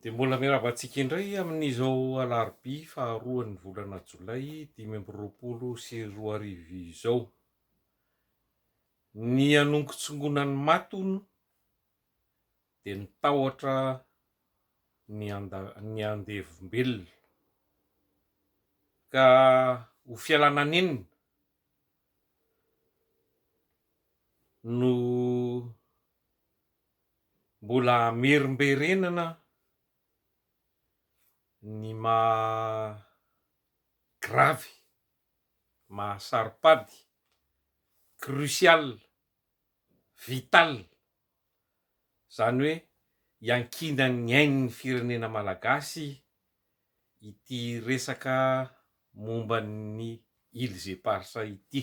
Dia mbola mirava antsika indray amin'izao alarobia faharoan'ny volana jolay dimy amby roapolo sy roa arivo izao. Ny hanongotsongonan'ny maty hono dia ny tahotra ny handa- ny handevombelona. Ka ho fialana nenina no Mbola merimberenana ny maha grave, maha saro-pady, crucial, vital, izany hoe iankinan'ny ain'ny firenena malagasy ity resaka momba ny îles éparses ity.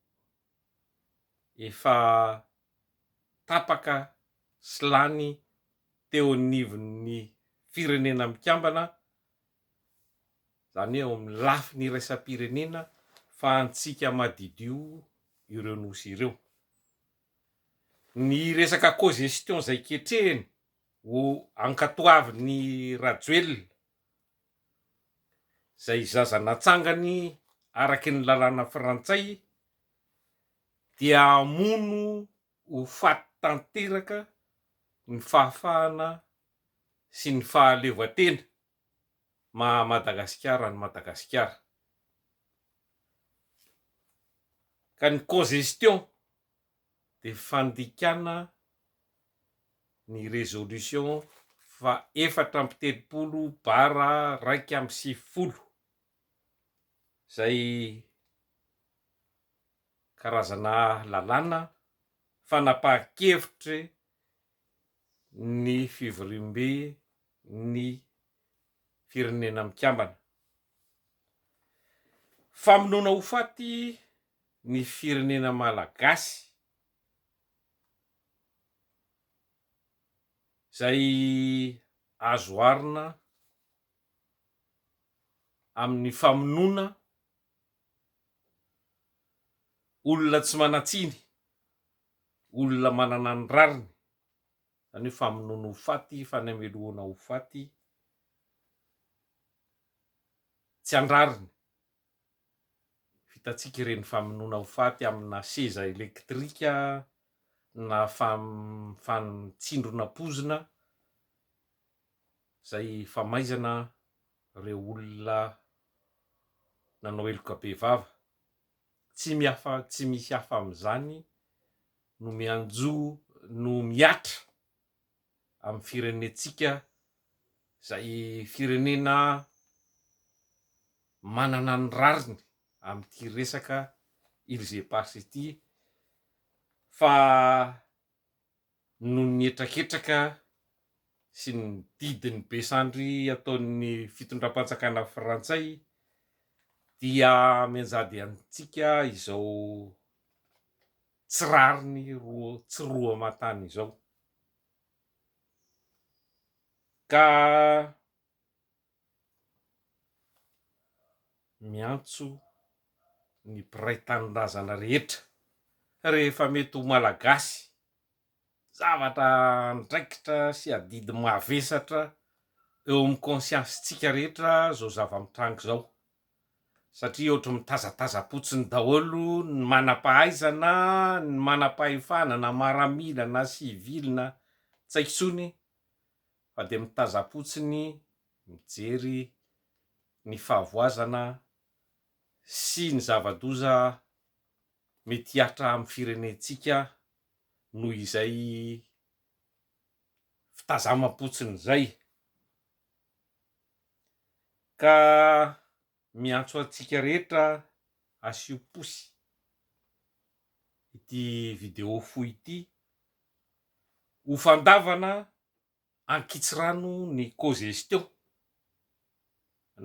efa tapaka sy lany teo anivon'ny Firenena Mikambana, izany hoe ao amin'ny lafiny iraisam-pirenena fa antsika madidio ireo Nosy ireo. Ny resaka cogestion izay ketrehiny ho ankatoavin'i Rajoelina, izay zaza natsangany araky ny lalàna frantsay dia hamono ho faty tanteraka ny fahafahana sy ny fahaleovantena maha Madagasikara an'i Madagasikara ka ny congestion dia fandikana ny résolution faha efatra amby telopolo bara iraika amby sivifolo izay karazana lalàna fanapahan-kevitry ny fivoriambe ny Firenena Mikambana. Famonoana ho faty ny firenena malagasy izay azo oharina amin'ny famonoana olona tsy manan-tsiny, olona manana ny rariny, izany hoe famonoana ho faty, fanamelohana ho faty tsy an-drariny. Vitantsika ireny famonoana ho faty amina seza elektrika na fantsindrona pozina izay famaizana ireo olona nanao heloka bevava. Tsy mihafa, tsy misy hafa amin'izany no mianjo, no mihatra. amin'ny firenentsika izay firenena manana ny rariny amin'ity resaka îles éparses ity fa noho ny hetraketraka sy ny didin'ny be sandry ataon'ny fitondram-panjakana frantsay dia mianjady antsika izao tsy rariny roa tsy roa aman-tany izao ka miantso ny mpiray tanindrazana rehetra rehefa mety ho Malagasy zavatra andraikitra sy adidy mavesatra eo amin'ny conscience-ntsika rehetra izao zava-mitranga izao satria ohatry mitazatazam-potsiny daholo ny manam-pahaizana, ny manam-pahefana na maramila na sivily na tsy haiko intsony fa dia mitazam-potsiny mijery ny fahavoazana sy ny zava-doza mety hihatra amin'ny firenentsika noho izay fitazamam-potsiny izay. Ka miantso antsika rehetra asio pouce ity vidéo fohy ity ho fandavana ankitsirano ny cogestion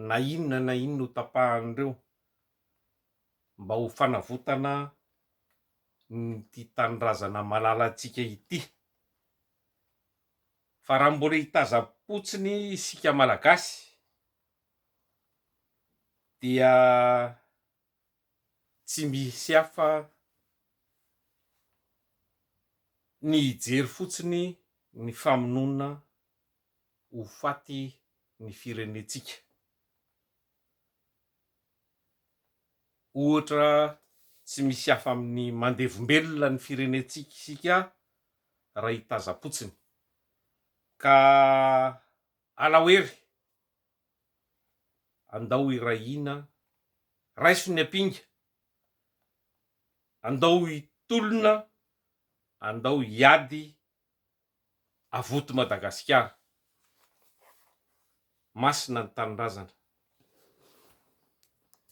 na inona na inona ho tapahan'ireo mba ho fanavotana ity tanindrazana malalantsika ity. Fa raha mbola hitazam-potsiny isika Malagasy dia tsy misy hafa ny hijery fotsiny ny famonoana ho faty ny firenentsika. Ohatra tsy misy hafa amin'ny mandevim-belona ny firenentsika isika raha i Tazapotsiny. Ka alao hery, andao hiray hina, raiso ny ampinga, andao hitolona, andao hiady Avoty Madagasikara. Masina ny Tanindrazana.